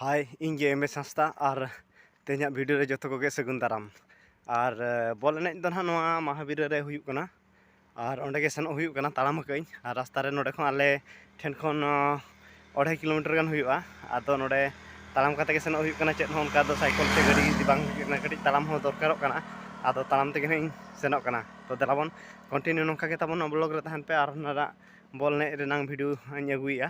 ᱦᱟᱭ ᱤᱧ ᱜᱮ M S Hansda ᱟᱨ ᱛᱮᱦᱮᱧᱟᱜ ᱵᱷᱤᱰᱤᱭᱳ ᱨᱮ ᱡᱚᱛᱚ ᱠᱚᱜᱮ ᱥᱟᱹᱜᱩᱱ ᱫᱟᱨᱟᱢ ᱟᱨ ᱵᱚᱞ ᱮᱱᱮᱡ ᱫᱚ ᱱᱟᱦᱟᱜ ᱱᱚᱣᱟ ᱢᱟᱦᱟᱵᱤᱨᱟᱹ ᱨᱮ ᱦᱩᱭᱩᱜ ᱠᱟᱱᱟ ᱟᱨ ᱚᱸᱰᱮ ᱜᱮ ᱥᱮᱱᱚᱜ ᱦᱩᱭᱩᱜ ᱠᱟᱱᱟ ᱛᱟᱲᱟᱢ ᱟᱠᱟᱜ ᱟᱹᱧ ᱟᱨ ᱨᱟᱥᱛᱟ ᱨᱮ ᱱᱚᱸᱰᱮ ᱠᱷᱚᱱ ᱟᱞᱮ ᱴᱷᱮᱱ ᱠᱷᱚᱱ ᱚᱲᱟᱭ ᱠᱤᱞᱳᱢᱤᱴᱟᱨ ᱜᱟᱱ ᱦᱩᱭᱩᱜᱼᱟ ᱟᱫᱚ ᱱᱚᱸᱰᱮ ᱛᱟᱲᱟᱢ ᱠᱟᱛᱮ ᱜᱮ ᱥᱮᱱᱚᱜ ᱦᱩᱭᱩᱜ ᱠᱟᱱᱟ ᱪᱮᱫ ᱦᱚᱸ ᱚᱱᱠᱟ ᱫᱚ ᱥᱟᱭᱠᱮᱞ ᱥᱮ ᱜᱟᱹᱰᱤ ᱤᱫᱤ ᱵᱟᱝ ᱦᱩᱭᱩᱜ ᱠᱟᱱᱟ ᱠᱟᱹᱴᱤᱡ ᱛᱟᱲᱟᱢ ᱦᱚᱸ ᱫᱚᱨᱠᱟᱨᱚᱜ ᱠᱟᱱᱟ ᱟᱫᱚ ᱛᱟᱲᱟᱢ ᱛᱮᱜᱮ ᱦᱟᱸᱜ ᱤᱧ ᱥᱮᱱᱚᱜ ᱠᱟᱱᱟ ᱛᱚ ᱫᱮᱞᱟ ᱵᱚᱱ ᱠᱚᱱᱴᱤᱱᱤᱭᱩ ᱱᱚᱝᱠᱟ ᱜᱮ ᱛᱟᱵᱚᱱ ᱵᱞᱚᱜᱽ ᱨᱮ ᱛᱟᱦᱮᱱ ᱯᱮ ᱟᱨ ᱱᱚᱣᱟ ᱵᱚᱞ ᱮᱱᱮᱡ ᱨᱮᱱᱟᱝ ᱵᱷᱤᱰᱤᱭᱳ ᱦᱟᱸᱜ ᱤᱧ ᱟᱹᱜᱩᱭᱮᱜᱼᱟ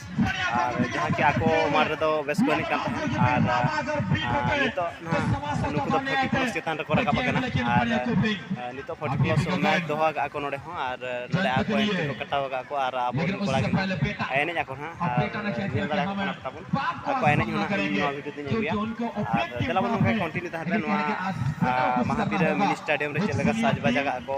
ᱟᱨ ᱡᱟᱦᱟᱸ ᱠᱤ ᱟᱠᱚ ᱩᱢᱟᱨ ᱨᱮᱫᱚ ᱵᱮᱥ ᱠᱚ ᱮᱱᱮᱡ ᱠᱟᱱ ᱛᱟᱦᱮᱸᱫ ᱟᱨ ᱱᱤᱛᱚᱜ ᱱᱟᱦᱟᱜ ᱱᱩᱠᱩ ᱫᱚ ᱯᱷᱳᱨᱴᱤ ᱯᱞᱟᱥ ᱪᱮᱛᱟᱱ ᱨᱮᱠᱚ ᱨᱟᱠᱟᱵ ᱟᱠᱟᱱᱟ ᱟᱨ ᱱᱤᱛᱚᱜ ᱯᱷᱳᱨᱴᱤ ᱯᱞᱟᱥ ᱢᱮᱪ ᱫᱚᱦᱚ ᱟᱠᱟᱫ ᱟᱠᱚ ᱱᱚᱰᱮ ᱦᱚᱸ ᱟᱨ ᱱᱚᱰᱮ ᱟᱠᱚ ᱮᱱᱴᱨᱤ ᱠᱚ ᱠᱟᱴᱟᱣ ᱟᱠᱟᱫ ᱠᱚ ᱟᱨ ᱟᱵᱚ ᱨᱮᱱ ᱠᱚᱲᱟ ᱜᱮ ᱱᱟᱦᱟᱜ ᱮᱱᱮᱡ ᱟᱠᱚ ᱱᱟᱦᱟᱜ ᱟᱨ ᱧᱮᱞ ᱫᱟᱲᱮ ᱟᱠᱚ ᱠᱟᱱᱟ ᱛᱟᱵᱚᱱ ᱟᱠᱚ ᱮᱱᱮᱡ ᱦᱚᱸ ᱱᱟᱦᱟᱜ ᱤᱧ ᱱᱚᱣᱟ ᱵᱷᱤᱰᱤᱭᱳ ᱛᱤᱧ ᱟᱹᱜᱩᱭᱟ ᱟᱨ ᱫᱮᱞᱟ ᱵᱚᱱ ᱱᱚᱝᱠᱟ ᱠᱚᱱᱴᱤᱱᱤᱭᱩ ᱛᱟᱦᱮᱱ ᱯᱮ ᱱᱚᱣᱟ ᱢᱟᱦᱟᱛᱤᱨᱮ ᱢᱤᱱᱤ ᱥᱴᱮᱰᱤᱭᱟᱢ ᱨᱮ ᱪᱮᱫ ᱞᱮᱠᱟ ᱥᱟᱡᱽ ᱵᱟᱡᱽ ᱟᱠᱟᱫ ᱟᱠᱚ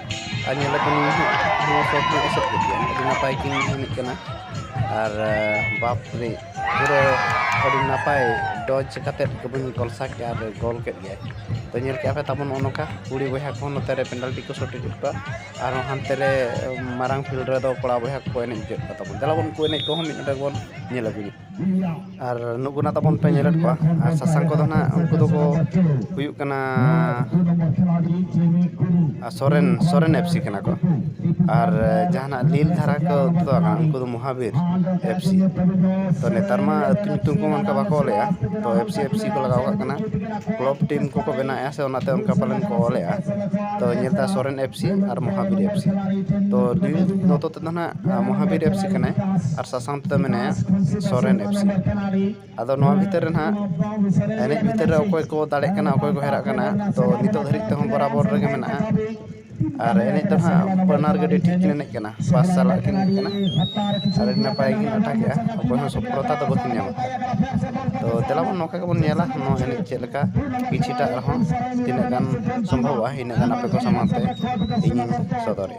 ᱟᱨ ᱧᱮᱞ ᱟᱠᱟᱱ ᱱᱚᱣᱟ ᱥᱚᱨᱴ ᱠᱚ ᱥᱮᱫ ᱠᱮᱫ ᱜᱮᱭᱟ ᱟᱹᱰᱤ ᱱᱟᱯᱟᱭ ᱠᱤᱱ ᱮᱱᱮᱡ ᱠᱟᱱᱟ ᱟᱨ ᱵᱟᱯ ᱨᱮ ᱯᱩᱨᱟᱹ ᱟᱹᱰᱤ ᱱᱟᱯᱟᱭ ᱰᱚᱡᱽ ᱠᱟᱛᱮᱫ ᱠᱚᱵᱚᱱ ᱠᱚᱞᱥᱟ ᱠᱮᱫᱼᱟ ᱟᱨ ᱜᱚᱞ ᱠᱮᱫ ᱜᱮᱭᱟᱭ ᱛᱚ ᱧᱮᱞ ᱠᱮᱫᱼᱟ ᱯᱮ ᱛᱟᱵᱚᱱ ᱱᱚᱜᱼᱚ ᱱᱚᱝᱠᱟ ᱠᱩᱲᱤ ᱵᱚᱭᱦᱟ ᱠᱚᱦᱚᱸ ᱱᱚᱛᱮ ᱨᱮ ᱯᱮᱱᱟᱞᱴᱤ ᱠᱚ ᱥᱚᱴ ᱦᱚᱪᱚ ᱠᱮᱫ ᱠᱚᱣᱟ ᱟᱨ ᱦᱟᱱᱛᱮ ᱨᱮ ᱢᱟᱨᱟᱝ ᱯᱷᱤᱞᱰ ᱨᱮᱫᱚ ᱠᱚᱲᱟ ᱵᱚᱭᱦᱟ ᱠᱚᱠᱚ ᱮᱱᱮᱡ ᱦᱚᱪᱚᱭᱮᱫ ᱠᱚ ᱛᱟᱵᱚᱱ ᱫᱮᱞᱟ ᱵᱚᱱ ᱩᱱᱠᱩ ᱮᱱᱮᱡ ᱠᱚᱦᱚᱸ ᱢᱤᱫ ᱰᱚᱸᱰᱮᱠ ᱵᱚᱱ ᱧᱮᱞ ᱟᱹᱜᱩᱭᱟ ᱟᱨ ᱱᱩᱠᱩ ᱱᱟᱜ ᱛᱟᱵᱚᱱ ᱯᱮ ᱧᱮᱞᱮᱫ ᱠᱚᱣᱟ ᱟᱨ ᱥᱟᱥᱟᱝ ᱠᱚᱫᱚ ᱱᱟᱜ ᱩᱱᱠᱩ ᱫᱚᱠᱚ ᱦᱩᱭᱩᱜ ᱠᱟᱱᱟ ᱥᱚᱨᱮᱱ ᱥᱚᱨᱮᱱ ᱮᱯᱷ ᱥᱤ ᱠᱟᱱᱟ ᱠᱚ ᱟᱨ ᱡᱟᱦᱟᱱᱟᱜ ᱱᱤᱞ ᱫᱷᱟᱨᱟ ᱠᱚ ᱛᱮᱫᱚ ᱵᱟᱝ ᱩᱱᱠᱩ ᱫᱚ ᱢᱚᱦᱟᱵᱤᱨ ᱮᱯᱷ ᱥᱤ ᱛᱚ ᱱᱮᱛᱟᱨ ᱢᱟ ᱟᱹᱛᱩ ᱧᱩᱛᱩᱢ ᱠᱚ ᱚᱱᱠᱟ ᱵᱟᱠᱚ ᱚᱞᱮᱜᱼᱟ ᱛᱚ ᱮᱯᱷ ᱥᱤ ᱮᱯᱷ ᱥᱤ ᱠᱚ ᱞᱟᱜᱟᱣ ᱠᱟᱜ ᱠᱟᱱᱟ ᱠᱞᱚᱵᱽ ᱴᱤᱢ ᱠᱚᱠᱚ ᱵᱮᱱᱟᱣᱮᱜᱼᱟ ᱥᱮ ᱚᱱᱟᱛᱮ ᱚᱱᱠᱟ ᱯᱟᱞᱮᱱ ᱠᱚ ᱚᱞᱮᱜᱼᱟ ᱛᱚ ᱧᱮᱞᱫᱟ ᱥᱚᱨᱮᱱ ᱮᱯᱷ ᱥᱤ ᱟᱨ ᱢᱚᱦᱟᱵᱤᱨ ᱮᱯᱷ ᱥᱤ ᱛᱚ ᱱᱤᱞ ᱱᱚᱛᱮ ᱛᱮᱫᱚ ᱱᱟᱜ ᱢᱚᱦᱟᱵᱤᱨ ᱮᱯᱥᱤ ᱠᱟᱱᱟᱭ ᱟᱨ ᱥᱟᱥᱟᱝ ᱛᱮᱫᱚ ᱢᱮᱱᱟᱭᱟ ᱥᱚᱨᱮᱱ ᱮᱯᱥᱤ ᱟᱫᱚ ᱱᱚᱣᱟ ᱵᱷᱤᱛᱤᱨ ᱨᱮ ᱱᱟᱦᱟᱜ ᱮᱱᱮᱡ ᱵᱷᱤᱛᱤᱨ ᱨᱮ ᱚᱠᱚᱭ ᱠᱚ ᱫᱟᱲᱮᱜ ᱠᱟᱱᱟ ᱚᱠᱚᱭ ᱠᱚ ᱦᱟᱨᱟᱜ ᱠᱟᱱᱟ ᱛᱚ ᱱᱤᱛᱚᱜ ᱫᱷᱟᱹᱨᱤᱡ ᱛᱮᱦᱚᱸ ᱵᱚᱨᱟᱵᱚᱨ ᱨᱮᱜᱮ ᱢᱮᱱᱟᱜᱼᱟ ᱟᱨ ᱮᱱᱮᱡ ᱫᱚ ᱱᱟᱦᱟᱜ ᱵᱟᱱᱟᱨ ᱜᱮ ᱟᱹᱰᱤ ᱴᱷᱤᱠ ᱠᱤᱱ ᱮᱱᱮᱡ ᱠᱟᱱᱟ ᱯᱟᱥ ᱥᱟᱞᱟᱜ ᱠᱤᱱ ᱮᱱᱮᱡ ᱠᱟᱱᱟ ᱟᱨ ᱟᱹᱰᱤ ᱱᱟᱯᱟᱭ ᱠᱤᱱ ᱞᱟᱴᱷᱟ ᱠᱮᱜᱼᱟ ᱚᱠᱚᱭ ᱦᱚᱸ ᱥᱚᱯᱷᱚᱞᱚᱛᱟ ᱫᱚ ᱵᱟᱹᱠᱤᱱ ᱧᱟᱢ ᱠᱟᱫᱟ ᱛᱚ ᱫᱮᱞᱟ ᱵᱚᱱ ᱱᱚᱝᱠᱟ ᱜᱮᱵᱚᱱ ᱧᱮᱞᱟ ᱱᱚᱣᱟ ᱮᱱᱮᱡ ᱪᱮᱫ ᱞᱮᱠᱟ ᱠᱤᱪᱷᱩᱴᱟ ᱨᱮᱦᱚᱸ ᱛᱤᱱᱟᱹᱜ ᱜᱟᱱ ᱥᱚᱢᱵᱷᱚᱵᱚᱜᱼᱟ ᱤᱱᱟᱹᱜ ᱜᱟᱱ ᱟᱯᱮ ᱠᱚ ᱥᱟᱢᱟᱝ ᱛᱮ ᱤᱧᱤᱧ ᱥᱚᱫᱚᱨᱮᱜᱼᱟ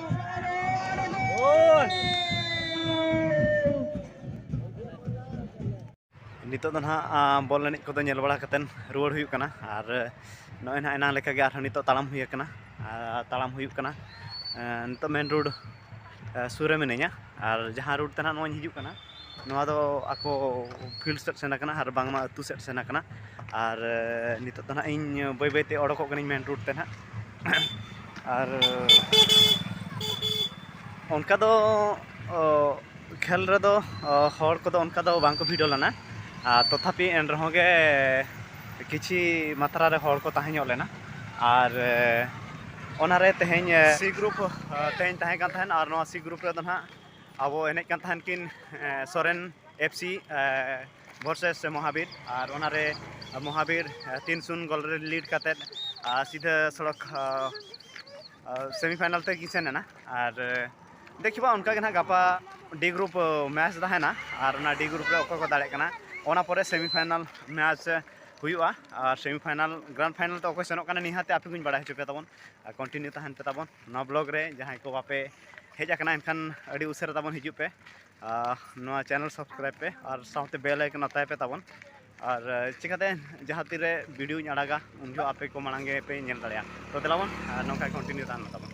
ᱱᱤᱛᱚᱜ ᱫᱚ ᱱᱟᱦᱟᱜ ᱵᱚᱞ ᱮᱱᱮᱡ ᱠᱚᱫᱚ ᱧᱮᱞ ᱵᱟᱲᱟ ᱠᱟᱛᱮᱫ ᱨᱩᱣᱟᱹᱲ ᱦᱩᱭᱩᱜ ᱠᱟᱱᱟ ᱟᱨ ᱱᱚᱜᱼᱚᱭ ᱱᱟᱦᱟᱜ ᱮᱱᱟᱝ ᱞᱮᱠᱟᱜᱮ ᱟᱨᱦᱚᱸ ᱱᱤᱛᱚᱜ ᱛᱟᱲᱟᱢ ᱦᱩᱭ ᱟᱠᱟᱱᱟ ᱛᱟᱲᱟᱢ ᱦᱩᱭᱩᱜ ᱠᱟᱱᱟ ᱱᱤᱛᱚᱜ ᱢᱮᱱ ᱨᱳᱰ ᱥᱩᱨ ᱨᱮ ᱢᱤᱱᱟᱹᱧᱟ ᱟᱨ ᱡᱟᱦᱟᱸ ᱨᱳᱰ ᱛᱮ ᱱᱟᱦᱟᱜ ᱱᱚᱜᱼᱚᱭ ᱤᱧ ᱦᱤᱡᱩᱜ ᱠᱟᱱᱟ ᱱᱚᱣᱟ ᱫᱚ ᱟᱠᱚ ᱯᱷᱤᱞᱰ ᱥᱮᱫ ᱥᱮᱱ ᱟᱠᱟᱱᱟ ᱟᱨ ᱵᱟᱝᱢᱟ ᱟᱹᱛᱩ ᱥᱮᱫ ᱥᱮᱱ ᱟᱠᱟᱱᱟ ᱟᱨ ᱱᱤᱛᱚᱜ ᱫᱚ ᱱᱟᱦᱟᱜ ᱤᱧ ᱵᱟᱹᱭ ᱵᱟᱹᱭᱛᱮ ᱚᱰᱚᱠᱚᱜ ᱠᱟᱹᱱᱟᱹᱧ ᱢᱮᱱ ᱨᱳᱰ ᱛᱮ ᱱᱟᱦᱟᱜ ᱟᱨ ᱚᱱᱠᱟ ᱫᱚ ᱠᱷᱮᱞ ᱨᱮᱫᱚ ᱦᱚᱲ ᱠᱚᱫᱚ ᱚᱱᱠᱟ ᱫᱚ ᱵᱟᱝᱠᱚ ᱵᱷᱤᱲᱚ ᱞᱮᱱᱟ ᱟᱨ ᱛᱚᱛᱷᱟᱯᱤ ᱮᱱ ᱨᱮᱦᱚᱸ ᱜᱮ ᱠᱤᱪᱷᱤ ᱢᱟᱛᱨᱟ ᱨᱮ ᱦᱚᱲ ᱠᱚ ᱛᱟᱦᱮᱸ ᱧᱚᱜ ᱞᱮᱱᱟ ᱟᱨ ᱚᱱᱟᱨᱮ ᱛᱮᱦᱮᱧ ᱥᱤ ᱜᱨᱩᱯ ᱛᱮᱦᱮᱧ ᱛᱟᱦᱮᱸ ᱠᱟᱱ ᱛᱟᱦᱮᱱ ᱟᱨ ᱱᱚᱣᱟ ᱥᱤ ᱜᱨᱩᱯ ᱨᱮᱫᱚ ᱱᱟᱦᱟᱜ ᱟᱵᱚ ᱮᱱᱮᱡ ᱠᱟᱱ ᱛᱟᱦᱮᱱ ᱠᱤᱱ ᱥᱚᱨᱮᱱ ᱮᱯᱷ ᱥᱤ ᱵᱷᱚᱨᱥᱮᱥ ᱢᱚᱦᱟᱵᱤᱨ ᱟᱨ ᱚᱱᱟᱨᱮ ᱢᱚᱦᱟᱵᱤᱨ ᱛᱤᱱ ᱥᱩᱱ ᱜᱚᱞ ᱨᱮ ᱞᱤᱰ ᱠᱟᱛᱮᱫ ᱥᱤᱫᱷᱟᱹ ᱥᱚᱲᱚᱠ ᱥᱮᱢᱤ ᱯᱷᱟᱭᱱᱟᱞ ᱛᱮᱠᱤᱱ ᱥᱮᱱ ᱮᱱᱟ ᱟᱨ ᱫᱮᱠᱷᱤᱵᱟ ᱚᱱᱠᱟ ᱜᱮ ᱱᱟᱦᱟᱜ ᱜᱟᱯᱟ ᱰᱤ ᱜᱨᱩᱯ ᱢᱮᱪ ᱛᱟᱦᱮᱱᱟ ᱟᱨ ᱚᱱᱟ ᱰᱤ ᱜᱨᱩᱯ ᱨᱮ ᱚᱠᱚᱭ ᱠᱚ ᱫᱟᱲᱮᱜ ᱠᱟᱱᱟ ᱚᱱᱟ ᱯᱚᱨᱮ ᱥᱮᱢᱤ ᱯᱷᱟᱭᱱᱟᱞ ᱢᱮᱪ ᱦᱩᱭᱩᱜᱼᱟ ᱟᱨ ᱥᱮᱢᱤ ᱯᱷᱟᱭᱱᱟᱞ ᱜᱨᱟᱱᱰ ᱯᱷᱟᱭᱱᱟᱞ ᱛᱮ ᱚᱠᱚᱭ ᱥᱮᱱᱚᱜ ᱠᱟᱱᱟ ᱱᱤᱦᱟᱹᱛ ᱟᱯᱮ ᱠᱚᱧ ᱵᱟᱲᱟᱭ ᱦᱚᱪᱚ ᱯᱮ ᱛᱟᱵᱚᱱ ᱟᱨ ᱠᱚᱱᱴᱤᱱᱤᱭᱩ ᱛᱟᱦᱮᱱ ᱯᱮ ᱛᱟᱵᱚᱱ ᱱᱚᱣᱟ ᱵᱞᱚᱜ ᱨᱮ ᱡᱟᱦᱟᱸᱭ ᱠᱚ ᱵᱟᱯᱮ ᱦᱮᱡ ᱟᱠᱟᱱᱟ ᱮᱱᱠᱷᱟᱱ ᱟᱹᱰᱤ ᱩᱥᱟᱹᱨᱟ ᱛᱟᱵᱚᱱ ᱦᱤᱡᱩᱜ ᱯᱮ ᱱᱚᱣᱟ ᱪᱮᱱᱮᱞ ᱥᱟᱵᱥᱠᱨᱟᱭᱤᱵ ᱯᱮ ᱟᱨ ᱥᱟᱶᱛᱮ ᱵᱮᱞ ᱟᱭᱠᱚᱱ ᱟᱛᱟᱭ ᱯᱮ ᱛᱟᱵᱚᱱ ᱟᱨ ᱪᱤᱠᱟᱛᱮ ᱡᱟᱦᱟᱸ ᱛᱤᱨᱮ ᱵᱷᱤᱰᱤᱭᱳᱧ ᱟᱲᱟᱜᱟ ᱩᱱ ᱡᱚᱦᱚᱜ ᱟᱯᱮ ᱠᱚ ᱢᱟᱲᱟᱝ ᱜᱮᱯᱮ ᱧᱮᱞ ᱫᱟᱲᱮᱭᱟᱜᱼᱟ ᱛᱚ ᱫᱮᱞᱟᱵᱚᱱ ᱱᱚᱝᱠᱟ ᱠᱚᱱᱴᱤᱱᱤᱭᱩ ᱛᱟᱦᱮᱱ ᱢᱟ ᱛᱟᱵᱚᱱ